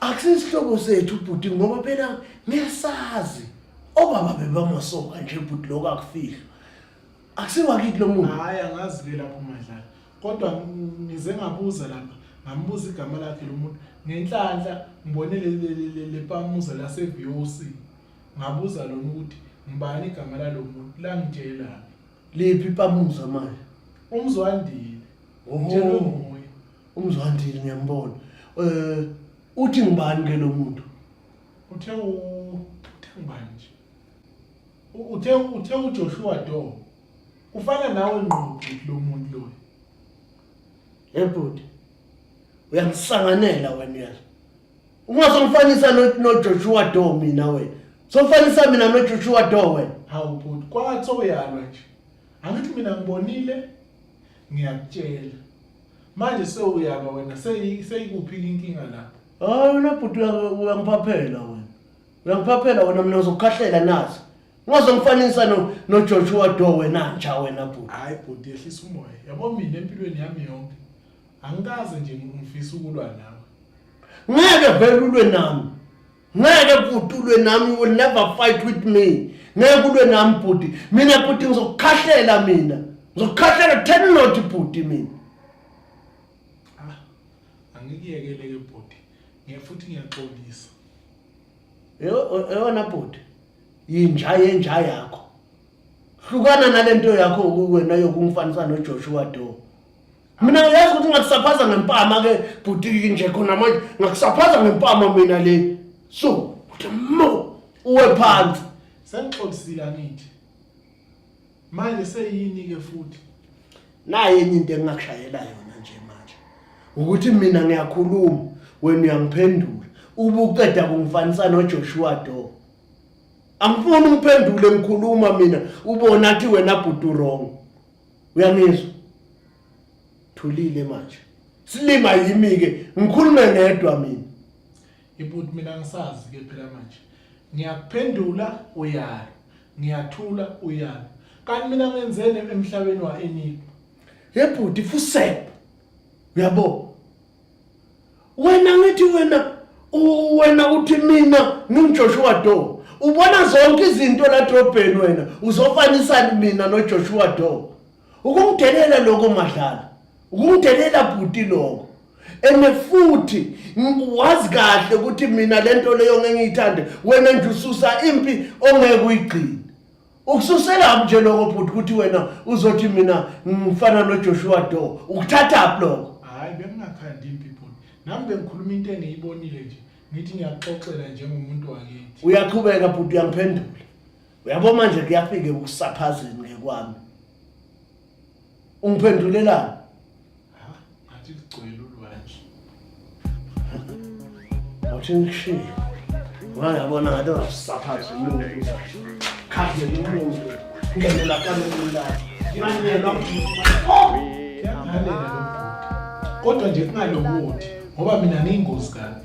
akusisihlobo sethu bhuti ngoba phela ngiyasazi obaba bebamasoka nje bhuti lokho akufihlwa akusiwakithi lo muntu hayi angazi ke lapho madlala kodwa ngize ngabuza lapha ngambuza igama lakhe lo muntu ngenhlanhla ngibone lepamuza laseVOC ngabuza lona ukuthi ngibani igama lalo muntu langitshela liphi ipamuza manje umzwandile oh. umzwandile ngiyambona eh uthi ngibani ke lo muntu uthe u- uthe ngubani nje U- uthe uthe ujoshua do ufana nawe ngqo bhuti lo muntu loyo ebhuti uyangisanganela wena uyazi ungasongifanisa no- nojoshua do mina wena sofanisa mina nojoshua do wena hawu bhuti kwathi sowuyalwa nje angithi mina ngibonile ngiyakutshela manje sewuyaba wena seyi- seyikuphi inkinga lapho hayi wena bhuti uya- uyangiphaphela wena uyangiphaphela wena mina uzokukhahlela nazo ungazongifanisa no- nojoshua do wena nja wena bhuti hhayi bhuti yehlisa umoya yabo mina empilweni yami yonke angikaze nje ngifisa ukulwa nawe ngeke vele ulwe nami ngeke bhuti ulwe nami you will never fight with me ngeke ulwe nami bhuti mina bhuti ngizokukhahlela mina ngizokukhahlela ten not bhuti mina ah, angikuyekele ke bhuti ngiye futhi ngiyaxolisa eyona bhuti yinja yenja yakho hlukana nalento yakho wena yokungifanisa noJoshua Doe mina ngiyazi ukuthi ngakusaphaza ngempama ke bhuti nje khona manje ngakusaphaza ngempama mina le so uthi mo uwe phansi sengixolisile angithi manje seyini ke futhi naye enye into engingakushayela yona nje manje ukuthi mina ngiyakhuluma wena uyangiphendula ubuqeda kungifanisa noJoshua Do angifuni ungiphendule ngikhuluma mina ubona athi wena bhuti wrong uyangizwa thulile manje silima yimi ke ngikhulume ngedwa mina ibut mina ngisazi ke phela manje ngiyakuphendula uyalo ngiyathula uyalo kanti mina ngenzeni emhlabeni waenipha yebhuti fusep uyabo wena ngithi wena wena uthi mina nginguJoshua Do ubona zonke izinto la drobheni wena uzofanisana mina noJoshua Do ukumdelela lokho madlala ukumdelela bhuti lokho ene futhi wazi kahle ukuthi mina lento leyo ngengiyithande wena nje ususa impi ongeke uyigcine ukususelaphi nje loko bhuti ukuthi wena uzothi mina ngifana nojoshua do ukuthathaphi loko hhayi bengingakhandi impi bhuti nami bengikhuluma into engiyibonile nje ngithi ngiyaxoxela njengomuntu wakithi uyaqhubeka bhuti uyangiphendula uyabo manje kuyafike ukusaphazini ngekwami ungiphendulelani ngathi ligcwele ulwandle ngathi ngishiye ngayabona ngathi ungasaphathi umuntu khathi umuntu ngenela kalula imanyelwa kodwa nje kungalokuthi ngoba mina ngiyingozi kani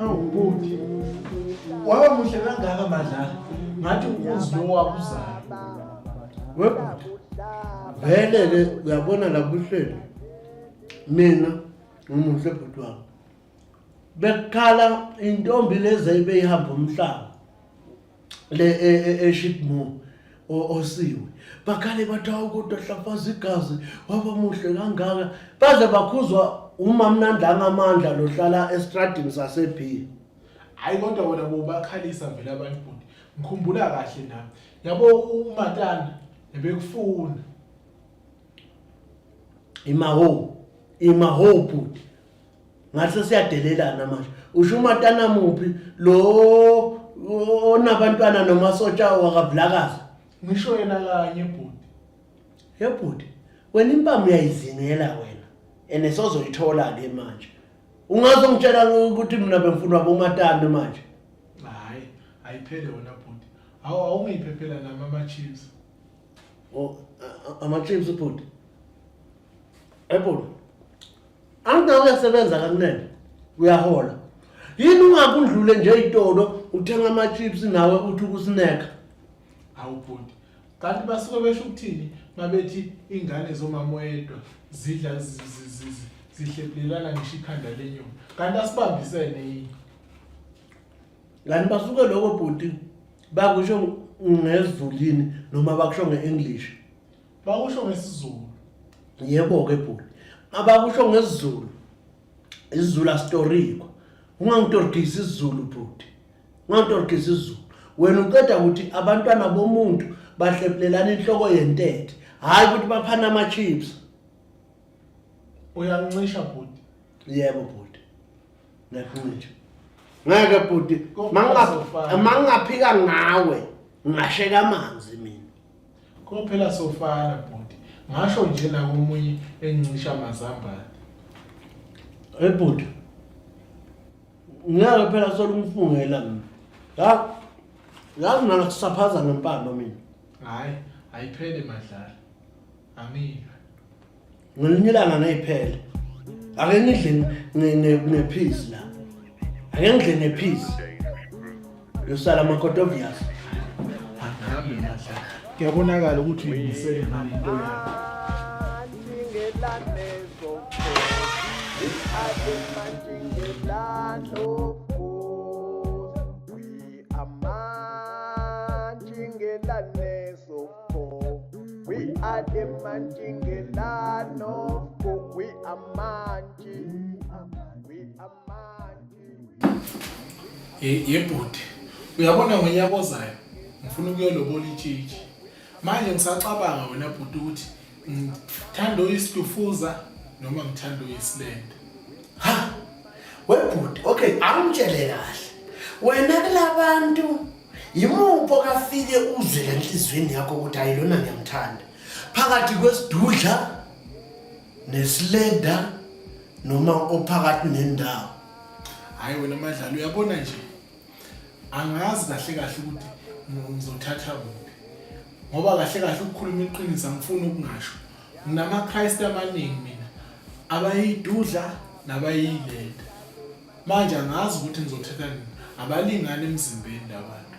awubuthi waba muhle kangaka madlala ngathi ukuzi lo wakuzayo webhuti velele uyabona labuhlelo mina ngumuhle bhuti wami bekukhala intombi lezi ebeyihamba umhlaba le e, e, eshipmo osiwe bakhale bathi hawu kodwa hlafaza igazi waba muhle kangaka baze bakhuzwa umamnandi angamandla lohlala estradini sasebhiya hayi kodwa wena bobakhalisa vele abantu bhuti ngikhumbula kahle nami yabo umatana ebekufuna imaho imaho bhuti ngathi siyadelelana manje usho umatana muphi lo onabantwana nomasotsha wakavulakazi ngisho yena kanye bhuti ye bhuti wena impama uyayizingela wena ene sozoyithola ke manje ungazongitshela ukuthi mina bengifuna bomatana manje hayi ayiphele wena bhuti awu awungiyiphephela nami ama-chips Oh, ama-chips ubhuti. Ebhuti. Anginawo uyasebenza kakunene. Uyahola. Yini ungakundlule nje itolo uthenga ama-chips nawe uthi ukusineka. Hawu bhuti. Kanti basuke besho ukuthini mabethi ingane zomama oyedwa zidla zi- zi- zi- zi- zihlephulelana ngisho ikhanda lenyoni. Kanti asibambisene yini? Kanti basuke lokho bhuti bakusho ngezulini noma bakusho nge-English. Bakusho ngesiZulu. Yebo ke bhuti. Abakusho ngesiZulu. IsiZulu asitoriko. Ungangitorikisi isiZulu bhuti. Ungangitorikisi isiZulu. Wena uqeda ukuthi abantwana bomuntu bahlephulelana inhloko yentethe. Hayi ukuthi baphana ama chips. Uyancisha bhuti. Yebo bhuti. ngiyakuncisha ngeke bhuti mangingaphika ngawe ngingasheka amanzi mina kophela sofana bhuti ngasho nje nakomunye encisha amazambane hey bhuti ngeke phela sola umfungela mina ya yazi mina kusaphaza ngempando mina hayi ayiphele madlala amile ngelinye ilanga ngiphele ake ngidle ngephisi la ake ngidle ngephisi yosala amakhoti obvious angihambe ngadla kuyabonakala ukuthi uyimisele ngani into yakho We are the Manjingelan of Cook. We are Manji. We are Manji. Yebhuti, uyabona ngonyaka ozayo ngifuna ukuyolobola itshitshi. Manje ngisacabanga wena bhuti ukuthi ngithanda oyisitufuza noma ngithanda oyisilende. Ha! Webhuti, okay, angitshele kahle. Wena kulabantu Yimuphi okafike uzwe lenhlizweni yakho ukuthi hayi lona ngiyamthanda? Phakathi kwesidudla nesilenda noma ophakathi nendawo. Hayi wena madlalo uyabona nje. Angazi kahle kahle ukuthi ngizothatha kuphi. Ngoba kahle kahle ukukhuluma iqiniso angifuni ukungasho. Nginama Christ amaningi mina. Abayidudla nabayilenda. Manje angazi ukuthi ngizothetha nini. Abalingani emzimbeni labantu.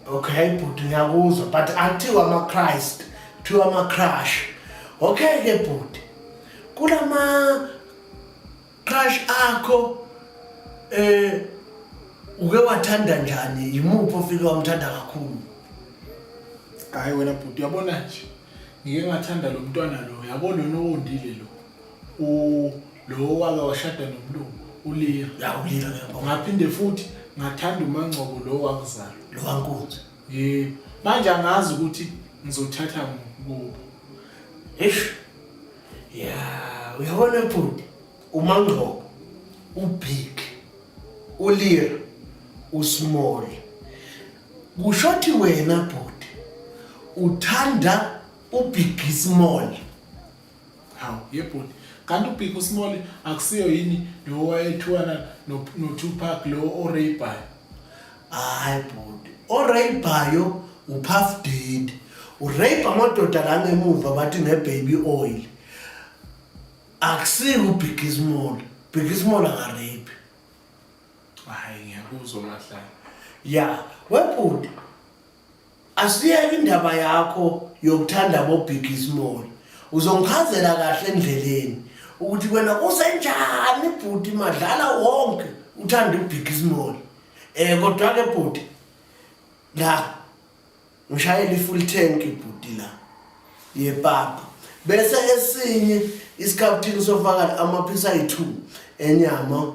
Okay bhuti ngiyakuzwa but akuthiwa ama Christ, kuthiwa ama crush. Okay ke bhuti. Kulama crush akho eh uke wathanda njani? Yimuphi ofike wamthanda kakhulu? Hayi wena bhuti uyabona nje. Ngike ngathanda lo mntwana lo, yabo lona owondile lo. u lo wake washada nomlungu uliya ya uliya ke ngaphinde futhi ngathanda umangcobo lo wakuzala lo wankunzi yebo manje angazi ukuthi ngizothatha kubo eish ya uyabona bhuti umangcobo ubig uliya usmall kushothi wena bhuti uthanda ubig small hawu yebhuti kanti ubig usmall akusiyo yini lo wayethiwana notupac lo oraybayo hayi bhuti oraybayo upuff did urape amadoda la ngemuva bathi ngebaby oil akusiyo ubig ismall big ismall akarape hayi ngiyakuzwa mahlala ya webhuti Asiyeke indaba yakho yokuthanda bo Big Small. Uzongichazela kahle endleleni ukuthi wena usenjani bhuti madlala wonke uthanda uBig Small. Eh kodwa ke bhuti la ngishayela ifull tank bhuti la yepapa bese esinye isikhaphthini sofakala amaphisa ayi-2 enyama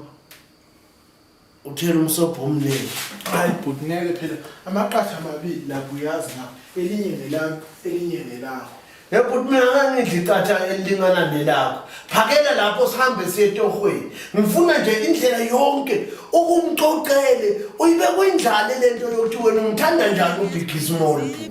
uthela umsobho omningi hayi bhuti ngeke phela amaqatha amabili lapho uyazi na elinye ngelami elinye ngelakho yebhuti mina ngangidla iqatha elilingana nelakho phakela lapho sihambe siye etohweni ngifuna nje indlela yonke ukumxoxele uyibe kwindlale le nto yokuthi wena umthanda njani ubigizimolo bhuti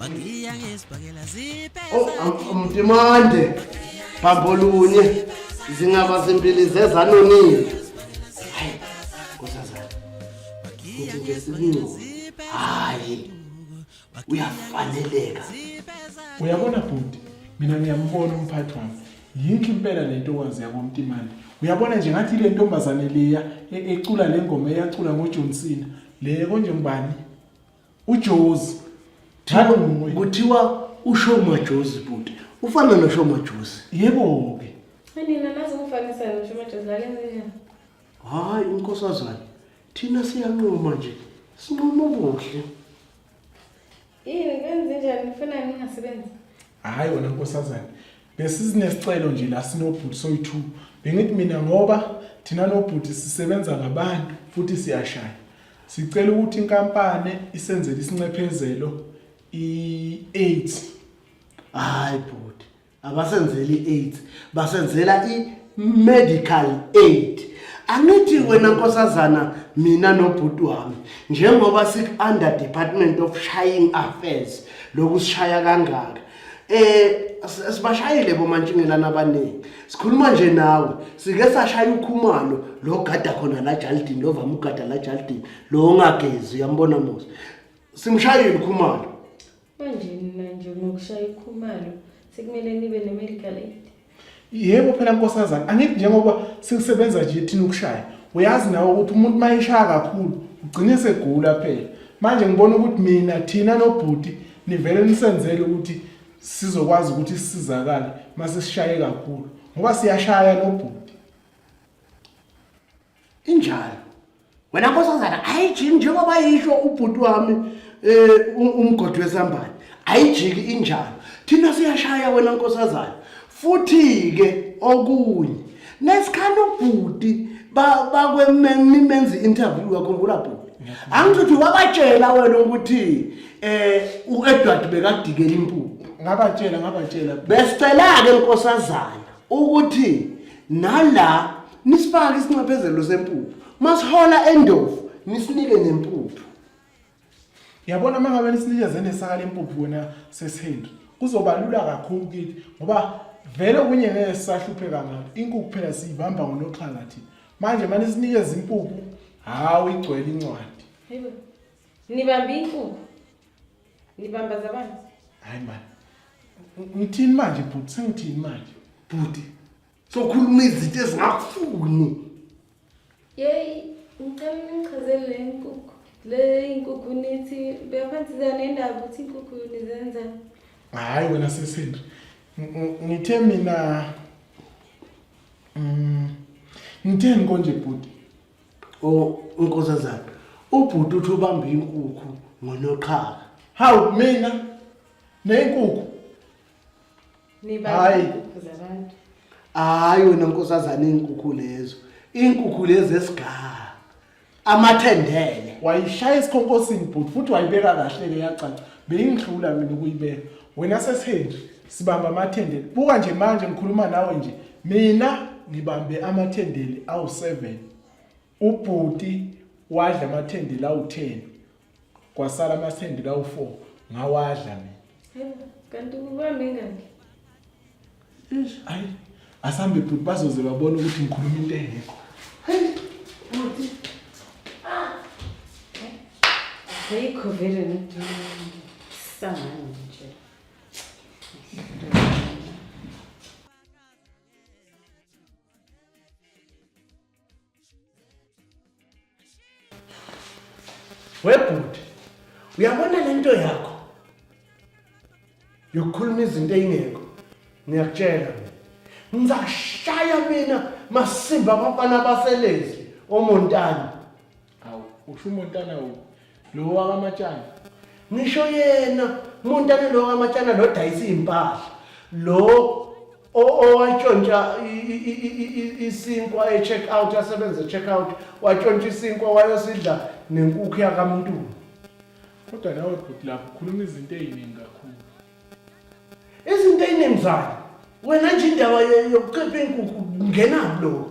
Wangiya ngesibhakela zipe Oh, am- amdimande bambolunye zingaba zimbili zezanonile hayi kusazana kuthi nje sikuncubo hayi uyafaneleka uyabona bhuti mina ngiyambona umphathi wami yinhle impela le ntokazi yakwamtimane uyabona nje ngathi le ntombazane leya e- ecula le ngoma eyacula ngojohn cena le konje ngubani ujozi Thalo nguye. kuthiwa ushoma jozi bhuti ufana noshoma jozi Yebo ke. Nina nazi ukufanisa ngisho majozi lalenze njani? hhayi unkosazane thina siyanquma nje sinquma ubuhle Yini kwenze njani nifuna ningasebenzi? Hayi wena nkosazane. Besizinesicelo nje la sinobhuti soyi-two. Bengithi mina ngoba thina nobhuti sisebenza ngabantu futhi siyashaya. Sicela ukuthi inkampani isenzele isincephezelo i-eight. Hayi bhuti, abasenzeli i-AIDS, basenzela i-medical aid. Angithi wena nkosazana mina nobhuti wami njengoba siku-under department of shying affairs lokusishaya kangaka eh sibashayile bomantshingelana abaningi sikhuluma nje nawe sike sashaya ukhumalo lo gada khona la Jaldini lo vama ugada la Jaldini lo ongagezi uyambona Musa simshayile ukhumalo manje nina nje ngokushaya ikhumalo sekumele nibe ne medical aid yebo phela nkosazana angithi njengoba sikusebenza nje thina ukushaya uyazi nawe ukuthi umuntu uma eshaya kakhulu ugcine segula phela manje ngibona ukuthi mina thina nobhuti nivele nisenzele ukuthi sizokwazi ukuthi sisizakale uma sesishaye kakhulu ngoba siyashaya nobhuti injalo wena nkosazana ayijiki njengoba yisho ubhuti wami um umgodi wesambane ayijiki injalo thina siyashaya wena nkosazana futhi-ke okunye nesikhani ubhuti bakwemimenzi interview wakhumbula bhuti angithi uthi wabatshela wena ukuthi um u-edward bekadikela impuphu ngabatshela ngabatshela besicela-ke nkosazana ukuthi nala nisifake isinxephezelo sempuphu masihola endovu nisinike nempuphu yabona uma ngabe nisinikeze nesaka lempuphu wena sesihendo kuzoba lula kakhulu kithi ngoba vele okunye ngeke sisahlupheka ngalo inkukhu phela siyibamba ngonoxhaka thina manje mane sinikeze impuphu hawu igcwele incwadi nibamba inkukhu nibamba zabani hayi mani ngithini manje bhuti sengithini manje bhuti sokhuluma izinto ezingafuni yeyi ngicela ningichazele le nkukhu le inkukhu nithi beyaphansisa nendaba ukuthi inkukhu nizenza hhayi wena sesendri ngithe mina mm, ngitheni konje bhuti unkosazana ubhuti uthi ubamba inkukhu ngonoqhaka hawu mina nenkukhu hayi hayi wena nkosazane iy'nkukhu lezo iy'nkukhu lezi esigaha amathendele wayishaya esikhonkosini bhuti futhi wayibeka kahle-ke yacaca beyingihlula mina ukuyibeka wena sesihenji sibamba amathendele buka nje manje ngikhuluma nawe nje mina ngibambe amathendele awu-seven Ubhuti wadla amathende la u-10 kwasala amathende la u-4 ngawadla mina. Hayibo, kanti kuba mingaki? Eish, ayi asambe bhuti bazoze babone ukuthi ngikhuluma into engekho. Bhuti. Ah. Ayikho vele ne. Sangani nje. webhuti uyabona le nto yakho yokukhuluma izinto eyingekho ngiyakutshela ngizashaya mina masimba abafana baselezi omontana Awu, usho uMontana u lo wakamatshana. Ngisho yena uMontana lo wakamatshana lo dayisa impahla. Lo owatshontsha isinkwa e-check out yasebenza e-check out watshontsha isinkwa wayosidla nenkukhu yakamuntu. Kodwa nawe bhuti lapho ukhuluma izinto eziningi kakhulu. Izinto eziningi zani? Wena nje indaba yokuqepha inkukhu ngena kulo.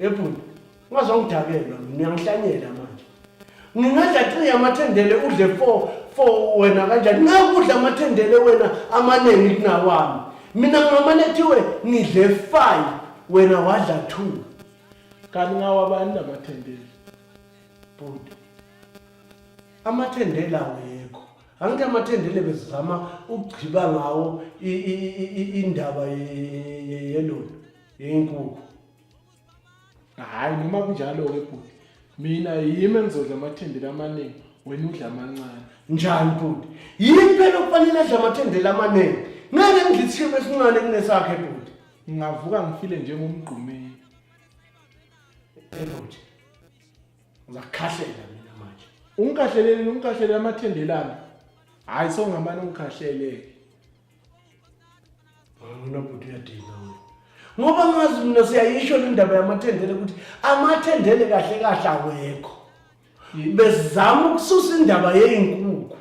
Ebhuti, ungazongidakelwa mina uyangihlanyela manje. Ngingadla 3 amathendele udle 4 4 wena kanjani? Ngakudla amathendele wena amaningi kunawami. Mina ngamane kuthiwe ngidle 5 wena wadla 2. Kanti ngawabani lamathendele? Bhuti. Amathendele awekho. Angithi amathendele bezizama ukugciba ngawo indaba yelona. yenkukhu hhayi noma kunjalo-ke bhuti mina yimi engizodla amathendela amaningi wena udla amancane njani bhuti yini phela okufanele adla amathendela amaningi ngeke ngidla isishimbo esincane kunesakhe bhuti ngingavuka ngifile njengomgqumeni bhuti uzakukhahlela mina manje ungikhahleleni ungikhahlele amathendelana hhayi songamane ungikhahleleke Angina bhuti uyadina wena. Ngoba ngazi mina siyayisho le ndaba yamathendele ukuthi amathendele kahle kahle awekho. Bezama ukususa indaba yezinkukhu.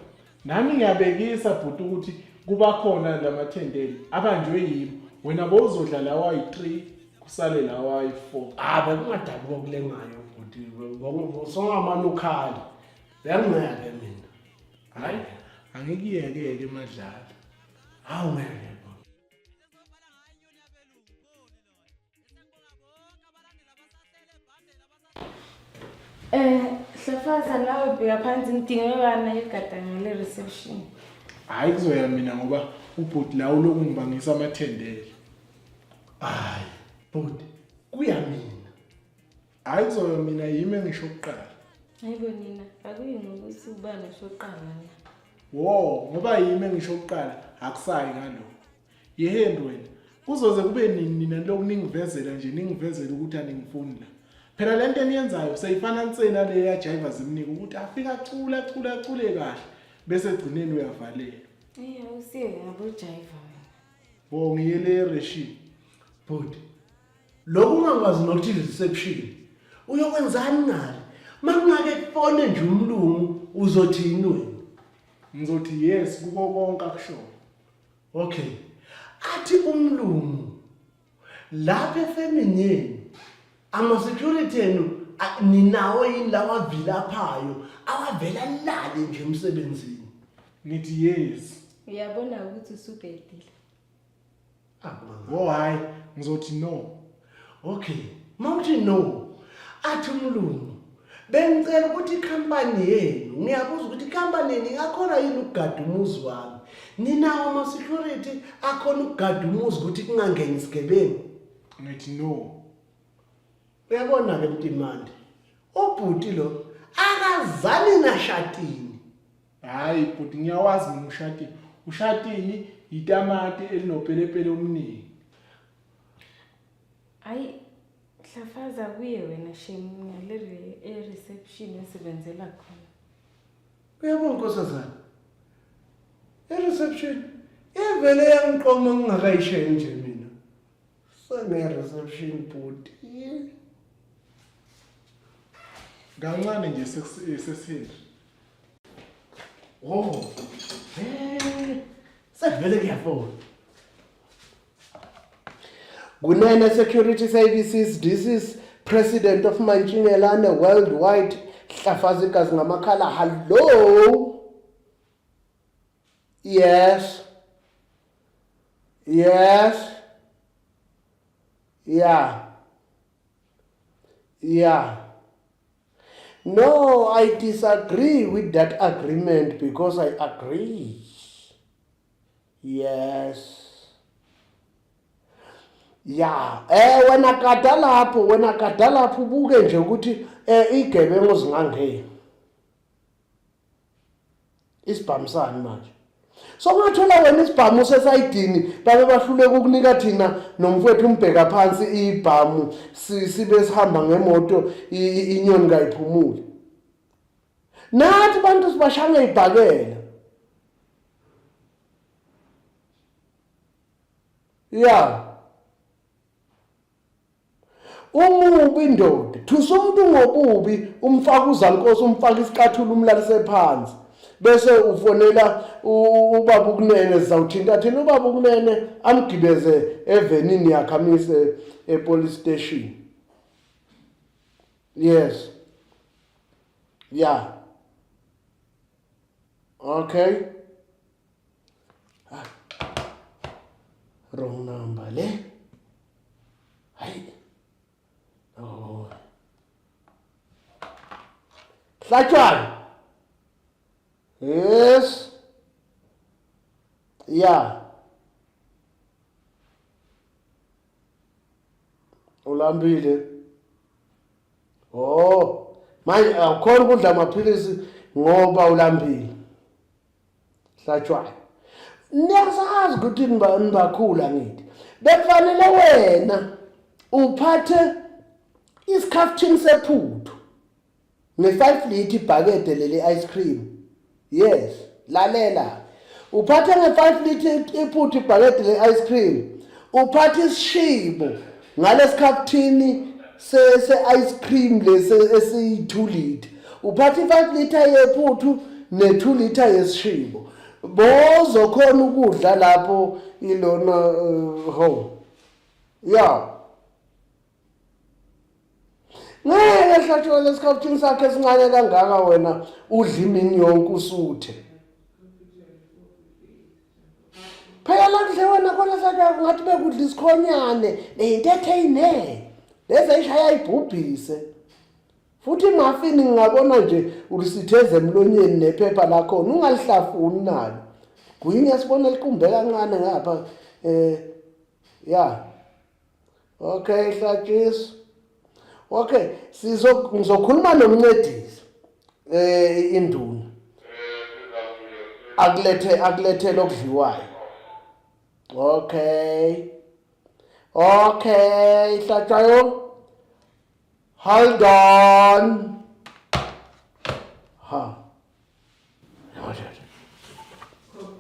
Nami ngiyabekisa bhuti ukuthi kuba khona lamathendele abanjwe yimi. Wena bowuzodla lawa yi-3 kusale lawa yi-4. Ah bekungadabi kokulengayo bhuti. Ngoba songamane ukhali. Uyangiyeke mina. Hayi, angikuyeke ke madlala. Hawu ngeke. Eh, Hlafaza nawe bheka phansi ngidinge bana egadanga le reception. Hayi kuzoya mina ngoba ubhuti la uloku ngibangisa amathendele. Hayi, bhuti, kuya mina. Hayi Zoyo mina yimi engisho kuqala. Hayibo nina akuyini ukuthi ubani usho kuqala la. Wo ngoba yimi engisho kuqala akusayi ngalokho. Yeheni wena kuzoze kube nini nina lokhu ningivezela nje ningivezela ukuthi aningifuni la. Phela lento eniyenzayo seyifana nsena le ya driver zimnika ukuthi afika acula acula acule kahle bese egcineni uyavalelwa. Eh awusiye ngabo driver. Wo ngiyele ereshi. Bhuti Lokhu ungakwazi nokuthi reception uyokwenzani ngale makungake kufone nje umlungu uzothini wena ngizothi yes kuko konke akushoyo okay athi umlungu lapha efemini yenu ama-security enu a- ninawo yini lawa avilaphayo awavela lale nje emsebenzini ngithi yes uyabona ukuthi usubhedile Oh hayi ngizothi no. Okay. Mawuthi no. Athi umlungu bengicela ukuthi ikhampani yenu ngiyabuza ukuthi ikhampani yenu ingakhona yini ukugada umuzi wami ninawo ama-security akhona ukugada umuzi ukuthi kungangeni isigebengu ngithi no uyabona-ke mtimande ubhuti lo akazani nashatini Hayi bhuti ngiyawazi mina ushatini. Ushatini yitamati elinopelepele omningi. Hayi hlafaza kuye wena shame ngale re- e-reception esebenzela khona. Uyabona nkosazana. E-reception ivele yangiqoma ngingakayishayi nje mina. Sene-reception bhuti. Kancane nje sesi- sesihindi. Oh. Eh. Sevele kuyafona. Kunene Security Services, this is President of Mantshingelane Worldwide, Hlafazi Gazi Ngamakhala. Hello. Yes. Yes. Yeah. Yeah. No, I disagree with that agreement because I agree. Yes. ya eh wena kada lapho wena kada lapho ubuke nje ukuthi eh igebengu zingangeni isibhamu sani manje so ungathola wena isibhamu usesayidini babe bahluleka ukunika thina nomfowethu umbheka phansi ibhamu sibe sihamba ngemoto inyoni kayiphumule nathi bantu sibashanga ibhakela ya umubi indoda thusa umuntu ngobubi umfaka uzankosi umfaka isicathulo umlalise phansi bese ufonela ubaba ukunene sizawuthinta thina ubaba ukunene amgibeze evenini yakhe amise epolice station yes yeah okay wrong number le hayi oh hlatshwana yes yeah ulambile oh manje awukhona ukudla amaphilisi ngoba ulambile Hlatshwayo. Niyasazi ukuthi nibakhula ngithi. Bekufanele wena uphathe isikhaftini sephuthu ne-five lithi ibhakede leli ice cream yes lalela uphathe nge-five lithi iphuthu ibhakede le-ice cream uphathe isishibo ngalesikhathini se-ice cream lesi esiyi-two litre uphatha i-five litre yephuthu ne-two litre yesishibo bozokhona ukudla lapho ilona uh, home ya ngeke hlatshwa lesikhathini sakhe esincane kangaka wena udla imini yonke usuthe phela la kudle wena khona sadwa kungathi bekudla isikhonyane neyintethe eyine lezi ayishaya ibhubhise futhi mafini ngingabona nje ulisitheze emlonyeni nephepha lakhona ungalihlafuni nalo gwinya sibona liqumbe kancane ngapha eh ya Okay hlatshiso. Okay sizo ngizokhuluma nomncedisi eh induna. Akulethe akulethe lokudliwayo. Okay. Okay hlatshayo. Hold on. Ha.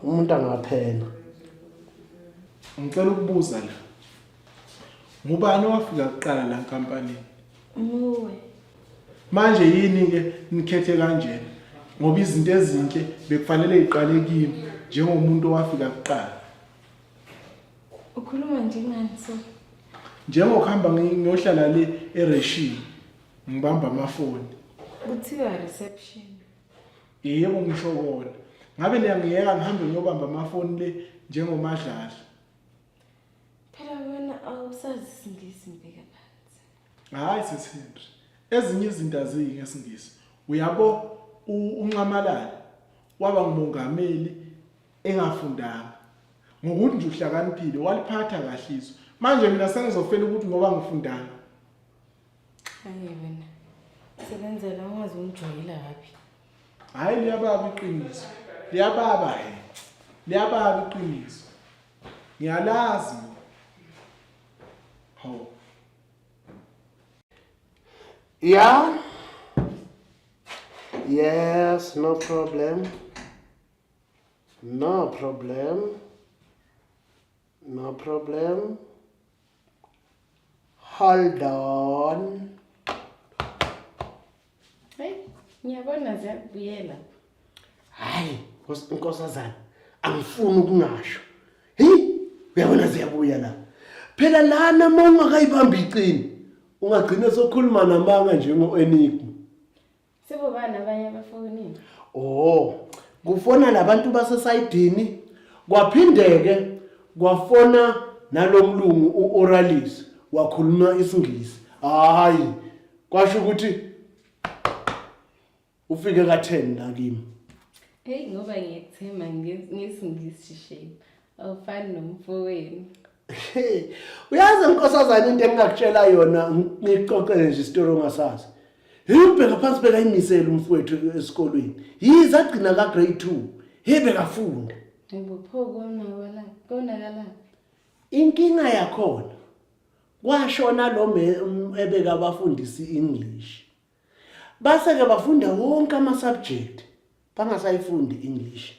umuntu angaphela ngicela ukubuza la ngubani owafika kuqala la nkampanini nguwe manje yini ke nikhethe kanjena ngoba izinto ezinhle bekufanele iqale kimi njengomuntu owafika kuqala ukhuluma njengani so njengokuhamba ngiyohlala le ereshini ngibamba amafoni kuthiwa reception yebo ngisho kona ngabe niyangiyeka ngihambe ngiyobamba amafoni le njengomadlala phela wena awusazi isingisi mbeka phansi hayi sesihindri ezinye izinto aziyi ngesingisi uyabo unxamalala waba ngumongameli engafundanga ngokuthi nje uhlakaniphile waliphatha kahle izwe manje mina sengizofela ukuthi ngoba ngifundanga Hayi wena. Sebenzela ungaze umjoyila kabi. Hayi liyababa iqiniso. Liyababa he. Liyababa iqiniso. Ngiyalazi. Ho. Yeah. Yes, no problem. No problem. No problem. Hold on. Hey, ngiyabona ziyakubuyela. Hayi, Nkosi- nkosazana, angifuni ukungasho. Hi, uyabona ziyabuya la. Phela lana uma ungakayibambi iqini, ungagcina sokhuluma namanga njengo-enigma. Sebobani abanye abafonile? Oh, kufona labantu basesayidini kwaphindeke kwafona nalomlungu uOralis wakhuluma isingisi. Hayi, kwasho ukuthi ufike ka10 la kimi. Hey ngoba ngiyethemba ngesingisi shape. awufani nomfowenu uyazi nkosazana into engingakutshela yona ngixoxele nje isitori ongasazi hibheka phansi bekayimisele umfowethu esikolweni yize agcina ka-grade two hibe kafunda inkinga yakhona kwashona lo ebeka abafundisi i-english base-ke bafunda wonke ama-subject bangasayifundi i-english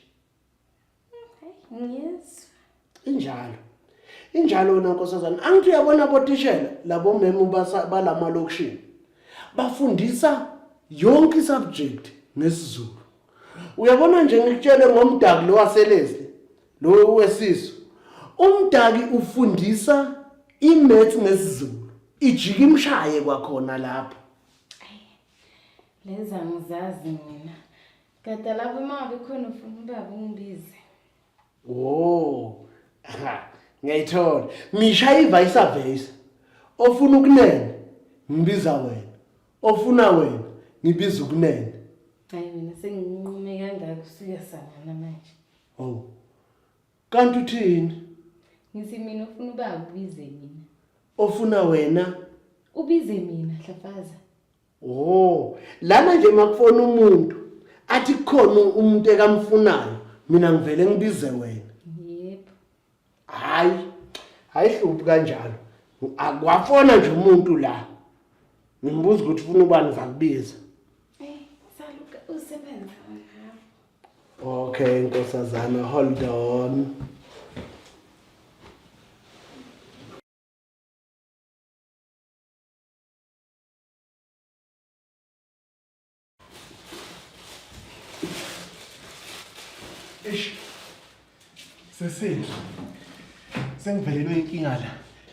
ngiyezwa injalo injalo wena nkosazana angithi uyabona botishela labo memu balama location bafundisa yonke isubject ngesizulu uyabona nje ngikutshele ngomdaki lo waselezi lo wesisu umdaki ufundisa imaths ngesizulu ijika imshaye kwakhona lapho lenza ngizazi mina Gadala kwimali khona ufuna ubaba ungibize. Oh. Ngiyayithola. Misha ivayisa vayisa. Ofuna ukunene ngibiza wena. Ofuna wena ngibiza ukunene. Hayi mina senginqume kangaka usuyasangana manje. Oh. Kanti uthini? Ngisi mina ufuna ubaba ubize mina. Ofuna wena ubize mina hlafaza. Oh, lana nje makufona umuntu athi khona umuntu ekamfunayo mina ngivele ngibize wena. Yebo. Hayi. Hayi hluphi kanjalo. Akwafona nje umuntu la. Ngimbuza ukuthi ufuna ubani ngizakubiza. Eh, saluka usebenza ngapha. Okay, nkosazana, hold on. Eish. Sesini. Sengivelelwe inkinga la.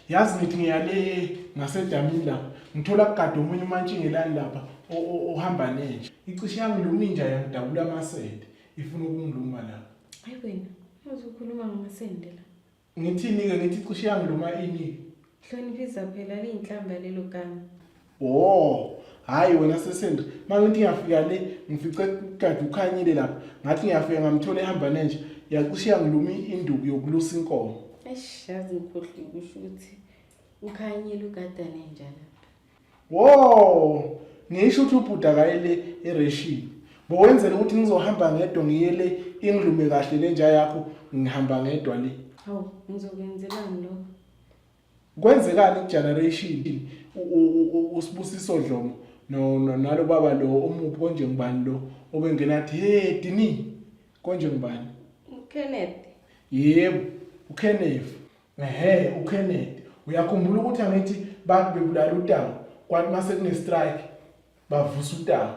Yazi ngithi ngiyale ngasedamini la. Ngithola kugada omunye umantshingelani lapha ohamba nenja. Icishe yangiluma inja yangidabula amasende. Ifuna ukungiluma la. Hayi wena, uzokhuluma ngamasende la. Ngithini-ke ngithi cishe yami noma ini? Hloniphisa phela liyinhlamba lelo gama. Wo, hhayi wena sesendri, uma ngithi ngiyafika le, ngifice kade ukhanyile lapha, ngathi ngiyafika ngamthola ehamba nenja, yacishe yangiluma induku yokulusa inkomo. Eish, yazi ngikhohliwe kusho ukuthi ukhanyile ugadane nja lapha. Wo! Ngisho ukuthi ubhuti akayele ereshini. Bowenzela ukuthi ngizohamba ngedwa ngiyele ingilume kahle lenja yakho ngihamba ngedwa le. Hawu, ngizokwenzelani lokho? Kwenzekani kugeneration usibusiso Dlomo no nalo baba lo omuphi konje ngibani lo obengena athi hey Dini konje ngibani? UKenneth. Yebo, uKenneth. Ehhe uKennedy uyakhumbula ukuthi angithi bantu bebulala uTawu kwathi mase kune strike bavusa uTawu.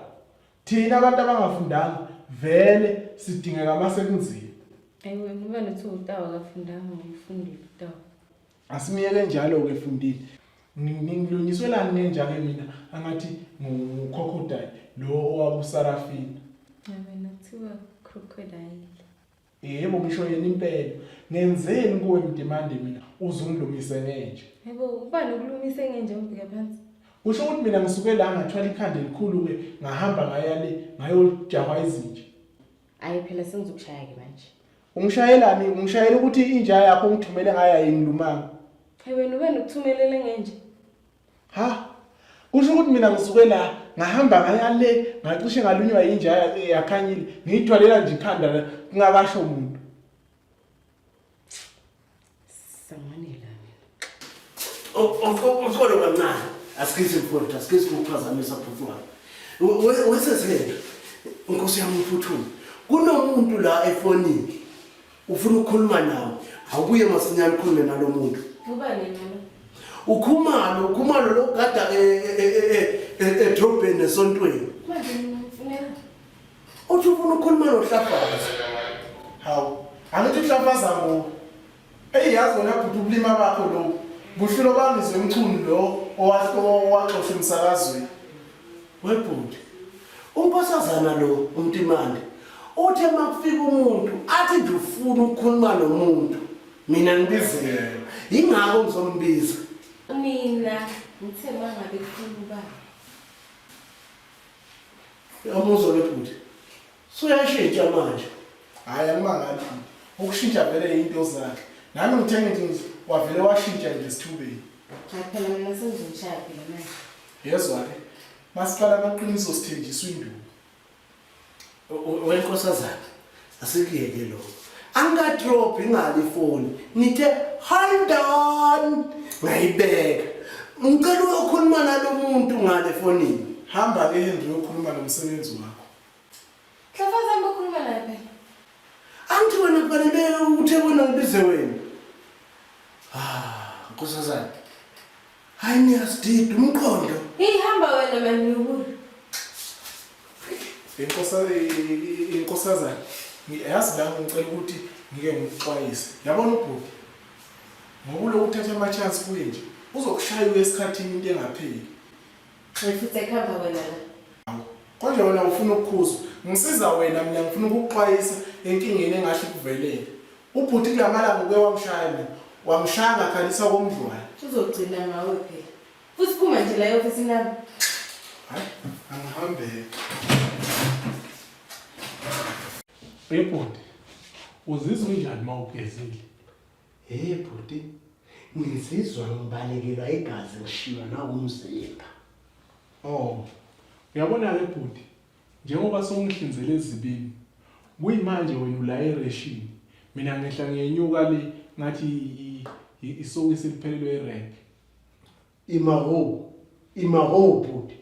Thina abantu abangafundanga vele sidingeka mase kunzima. Ewe ngoba nothi uTawu akafundanga ngifundile uTawu. Asimiyeke njalo ke fundile. Ngilungiswelani nenjake mina angathi ngukhokhodayi lo owabusarafina. Ewe nothiwa crocodile. Yebo ngisho yena impela. Ngenzeni kuwe mdimande mina uze ungilungise ngenje. Yebo uba nokulungise ngenje ngibheke phansi. Kusho ukuthi mina ngisuke la ngathwala ikhanda elikhulu ke ngahamba ngaya le ngayojahwa izinja. Hayi phela sengizokushaya ke manje. Ungishayelani? Ungishayela ukuthi inja yakho ungithumele ngayo ayingilumanga. Hey wena ube nokuthumelele ngenje. ha kusho ukuthi mina ngisuke la ngahamba ngaya le ngacishe ngalunywa yinja yakhanyile ngiyithwalela nje ikhanda kungakasho umuntu samanela ukholo kancane asikhithi mfowethu asikhithi ukuphazamisa bhuti wami wesezilento nkosi yami uphuthume kunomuntu la efonini ufuna ukukhuluma nawo awubuye masinyane ukhulume nalo muntu ukhumalo ukhumalo logada edrobheni esontweni uthi ufuna ukukhuluma nohlafazi hawu angithi uhlafaza ngo eyi yazi wena bhuti ubulima bakho loku buhlulo bangizwe mchunu lo owaxosha emsakazweni Webhuti, unkosazana lo uMtimande uthe makufika umuntu athi nje ufuna ukukhuluma nomuntu mina ngibizela yingakho ngizombiza mina ngithe mangabe kufuna ubaba yamuzwa webhuti Suyashintsha manje. Hayi angimangali. Ukushintsha vele into zakhe. Nami ngithe ngithi wavele washintsha nje sithubeni. Hayi phela mina sengizomshaya phela manje. Yezwa ke. Masiqala amaqiniso sithenjiswa induku. Wenkosazana asikuyeke lokho. Angikadrop ingani ifoni. Ngithe hold on. Ngayibeka. Ngicela uyokhuluma nalomuntu ngale fonini. Hamba ke Henry uyokhuluma nomsebenzi wakho. Hlafazani bokhuluma naye phela. Angithi wena kufanele ukuthi ebona ngibize wena. Ah, nkosazana. Hayi niyasidida umqondo. Ihamba wena manduku. Inkosa inkosazana. Ngiyazi la ngicela ukuthi ngike ngikuxwayise. Yabona ubhuti. Ngokulo uthatha ama chance kuye nje. Uzokushaya uyesikhathini into engapheli. Ngifuthe ekhamba wena la. Hawu, konje wena ufuna ukukhuzwa. Ngisiza wena mina ngifuna ukukuxwayisa enkingeni engahle ikuvelele. Ubhuti kulamalanga uke wangishaya mina. Wangishaya ngakhalisa komdlwane. Uzogcina ngawe phela. Futhi phuma nje la eofisini lami. Hayi, angihambeke. Ebhuti, uzizwa unjani uma ugezile? Hey bhuti, ngizizwa ngibalekelwa igazi ngishiywa nawumzimba. Oh, uyabona-ke bhuti, njengoba songihlinzele ezibini, kuyimanje wena ula ereshini, mina ngehla ngiyenyuka le ngathi isokisi liphelelwe irenke. Ima ho, ima ho bhuti.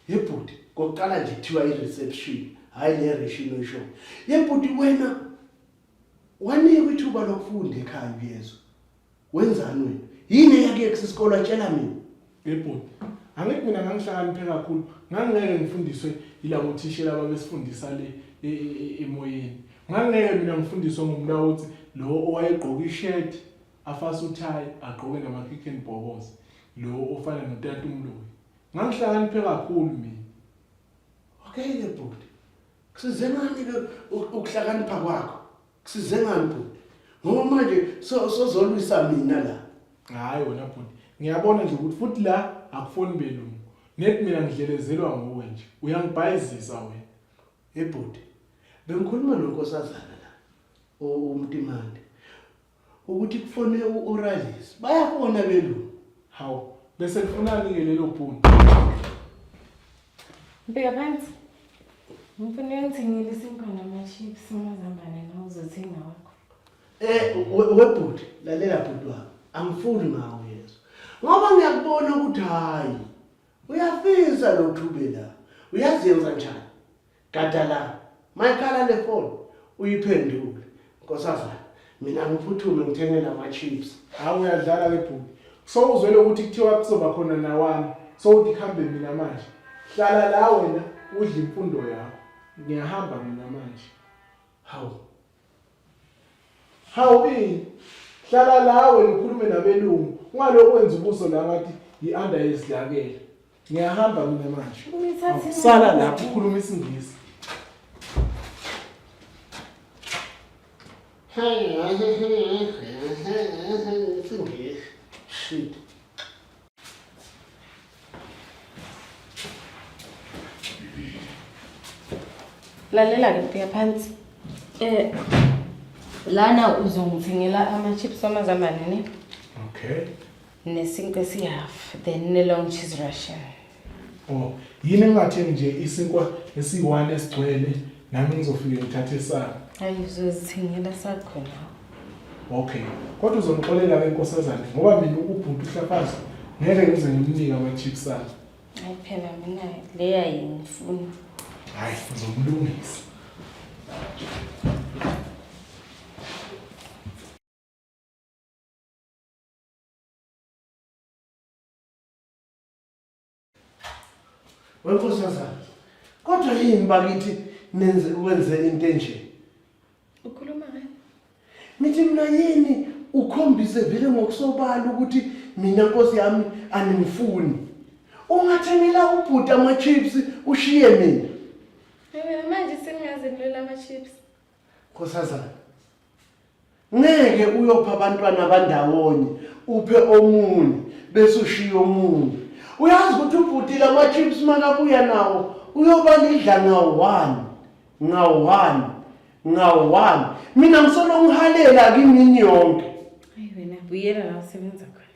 Ye bhuti, kokuqala nje kuthiwa i-reception, hhayi le reshini oyishoyo. Ye bhuti wena wanikwa ithuba lokufunda ekhaya uyezwa. Wenzani wena? Yini eyakuyekisa isikole atshela mina? Ye bhuti, angithi mina ngangihlakaniphe kakhulu, ngangingeke ngifundiswe yilabo thishela ababesifundisa le e- e- e- emoyeni. Ngangingeke mina ngifundiswe ngumlawoti lo owayegqoke ishedi. afase uthayi agqoke namakicken bobos lo ofana notata umloyi ngangihlakaniphe kakhulu mina okay ke bhuti kusize ngani ke ukuhlakanipha kwakho kusize ngani bhuti ngoba manje sozolwisa mina la hayi wena bhuti ngiyabona nje ukuthi futhi la akufoni belungu net mina ngidlelezelwa nguwe nje uyangibhayizisa wena ebhuti bengikhuluma nonkosazana la umtimande ukuthi kufone u-oralis bayafona belungu hawu bese kufunani-ke lelo bhuni mbheka phansi ngifuna uyongithengela isinkwa nama-chips umazambane nawuzothenga wakho um webhuti lalela bhuti wami angifuni ngawo yezo ngoba ngiyakubona ukuthi hhayi uyafisa lo thube la uyazenza njani gada la mayikhala le foni uyiphendule nkosazana mina ngiphuthume ngithengele ama-chips hawu uyadlala ke bhuti sowuzwele ukuthi kuthiwa kuzoba khona nawami sowuthi kuhambe mina manje hlala la wena udle imfundo yakho ngiyahamba mina manje hawu Hawu ini? Hlala la wena ukhulume nabelungu. Ungalokhu wenza ubuso la ngathi yi-under yezidlakela. Ngiyahamba mina manje. Unithathe Sala lapho ukhuluma isiNgisi. Shit. lalela-ke bheka phansi um lana uzongithengela ama-chips amazambane ne okay nesinkwa esihafu then ne-long cheese russian oh yini engingathengi nje isinkwa esiyi-one esigcwele nami ngizofike ngithathe sami ayi uzozithengela sakhona Okay. Kodwa uzomxolela ke nkosazane ngoba mina ukubhuti uhlafaza ngeke ngize ngimnike ama chips akhe. Hayi phela mina leya yini funa. Hayi uzomlungisa. Wenkosazana. Kodwa yini bakithi nenze ukwenze into enje? Ukhuluma ngani? Mithi mina yini ukhombise vele ngokusobala ukuthi mina nkosi yami animfuni. Ungathengela ubhuti ama chips ushiye mina. Yena manje sengaze nilwela ama chips. Nkosazana, ngeke uyopha abantwana abandawonye uphe omunye bese ushiye omunye. Uyazi ukuthi ubhuti lama chips makabuya nawo uyoba nidla ngawo one ngawo one ngawo one. Mina ngisolo ngihalela kimini yonke. Hayi wena buyela la usebenza khona.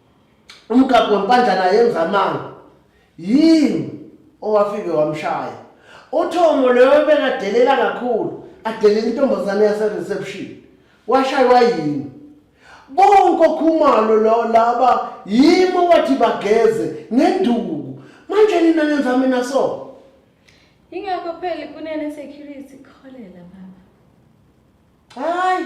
Umgabho wempandlana yenza amanga. Yini owafike wamshaya. Uthomo loyo bekadelela kakhulu, adelela intombazane yase reception. Washaywa yini? Bonke okhumalo lo laba yimo wathi bageze ngenduku. Manje nina nenza mina so. Ingakho phela kunene security kholela baba. Hayi.